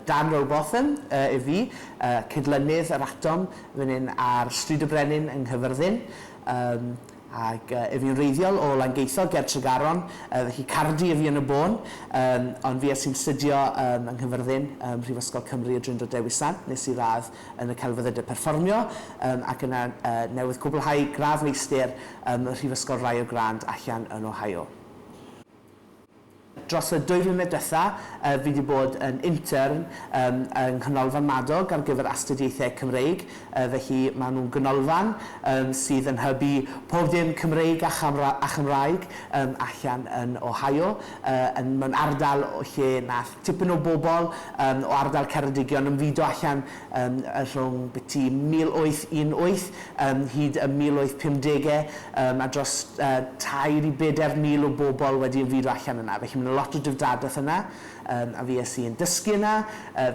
Dan Rowbotham yw fi, cydlynydd yr Atom fan hyn ar Stryd y Brenin yng Nghyfyrddin, ac yw fi'n wreiddiol o Langeitho ger Tregaron, felly Cardi yw fi yn y bôn, ond fi sy'n studio yng Nghyfyrddin ym Mhrifysgol Cymru y Drindod Dewi Sant, nes i radd yn y Celfyddydau Perfformio, ac yna newydd cwblhau gradd meistr ym Mhrifysgol Rio Grande allan yn Ohio. Dros y dwy flynedd diwetha, fi wedi bod yn intern yng Nghanolfan Madog ar gyfer Astudiaethau Cymreig, felly maen nhw'n ganolfan sydd yn hybu pob dim Cymreig a Chymraeg allan yn Ohio, mewn ardal lle wnaeth tipyn o bobl o ardal Ceredigion ymfudo allan rhwng byti 1818 ym mhyd y 1850au a dros tair i bedair mil o bobl wedi ymfudo allan yna. Felly mae yna lot o drefdadaeth yna a fues i yn dysgu yna,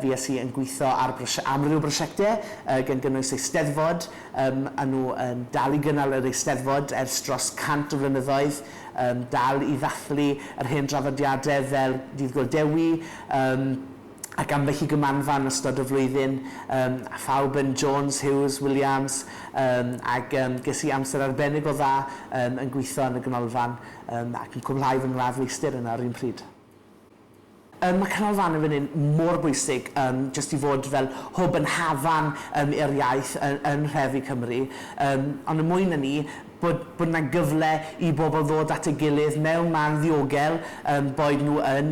fues i yn gweithio ar amryw o brosiectau gan gynnwys Eisteddfod, maen nhw yn dal i gynnal yr Eisteddfod ers dros 100 o flynyddoedd, dal i ddathlu yr hen draddodiadau fel Dydd Gŵyl Dewi, ac ambell i gymanfa yn ystod y flwyddyn, yym, a phawb yn Jones, Hughes, Williams, yym, ac yym, ges i amser arbennig o dda yym, yn gwitho yn y ganolfan yym, ac yn cwblhau fy ngradd feistr yna yr un pryd. Yym, mae canolfannau fel hyn mor bwysig yym, jyst i fod fel hwb yn hafan yym, i'r iaith yn yn nhrefi Cymru, yym, ond yn mwy na 'ny, bod bod 'na gyfle i bobl ddod at ei gilydd mewn man ddiogel, yym, boed nhw yn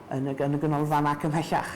yn y Ganolfan ac ymhellach.